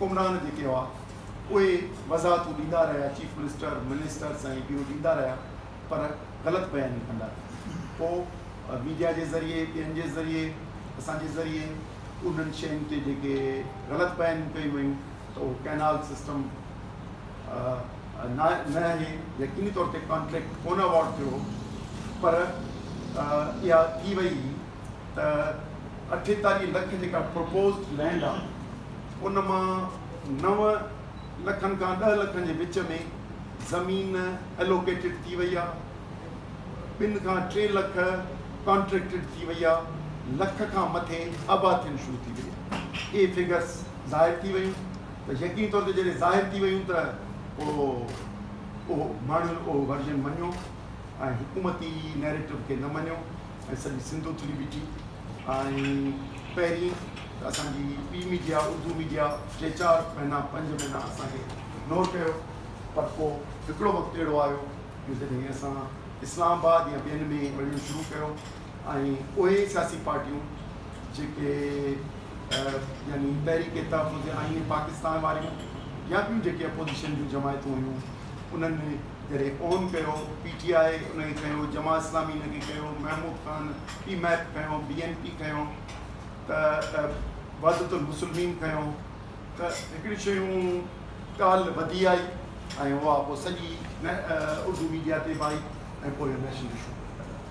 حڪمران جيڪي هئا اهي وضاحتون ڏيندا رهيا چيف منسٽر منسٽرس ۽ ٻيو ڏيندا رهيا پر غلط بياني ڪندا رهيا پوء ميڊيا جي ذريعي ٻين جي ذريعي اسان جي ذريعي انهن شين تي جيڪي غلط بيانيون ڪيون ويون ته اهو ڪئنال سسٽم نه نه اهي يقيني طور تي ڪانٽريڪٽ ڪونه اواڊ ٿيو هو پر اها ٿي وئي هئي ته اٺيتاليهه لک جيڪا پروپوزڊ لينڊ آهي ان مان نو لکن کان ڏهه لکن جي وچ ۾ زمين الوڪيٽيڊ ٿي وئي آهي ٻن کان ٽي لک ڪانٽريڪٽيڊ ٿي وئي آهي لک کان مٿي آباد ٿيڻ شروع ٿي وئي آهي اهي فگرس ظاهر ٿي ويون ته يقيني طور تي جڏهن ظاهر ٿي ويون ته پوء اهو ماڻهن اهو ورجن مڃيو ۽ حڪومتي نيريٽو کي نه مڃيو ۽ سڄي سنڌ اٿلي بيٺي ۽ پهرين ته اسان جي پي ميڊيا اردو ميڊيا ٽي چار مهينا پنج مهينا اسان کي اگنور ڪيو پر پوء هڪڙو وقت اهڙو آيو جو جڏهن اسان اسلام آباد يا ٻين ۾ وڃڻ شروع ڪيو ۽ اهي سياسي پارٽيون جيڪي يعني تحريڪ تحفظ آئين پاڪستان واريون يا ٻيون جيڪي اپوزيشن جون جماعتون هيون انهن جڏهن اون ڪيو، پي ٽي آء ان کي کنيو، جماعت اسلامي ان کي کنيو، محمود خان پي ميپ کنيو، بي اين پي کنيو ته وحدت المسلمين کنيو ته هڪڙي شيون ڳالهه وڌي آئي ۽ اها پوء سڄي اردو ميڊيا تي به آئي ۽ پوء اهو نيشنل اشو بڻجي ويو.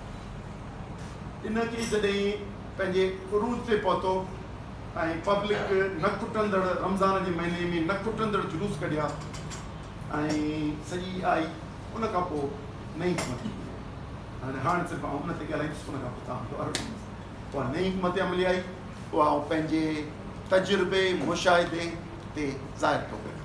ان کي جڏهن پنهنجي عروج تي پهتو ۽ پبلڪ نه کٽندڙ رمضان جي مهيني ۾ نه کٽندڙ جلوس ڪڍيا، ۽ سڄي آئي ان کان پوء نئين حڪمت عملي آئي ۽ هاڻ صرف آئون ان تي ڳالهائيندس ان کان پوء توهان جو عرض ڏيندس. اها نئين حڪمت عملي آئي اها آئون پنهنجي تجربي، مشاهدي، تي ظاهر ٿو ڪريان.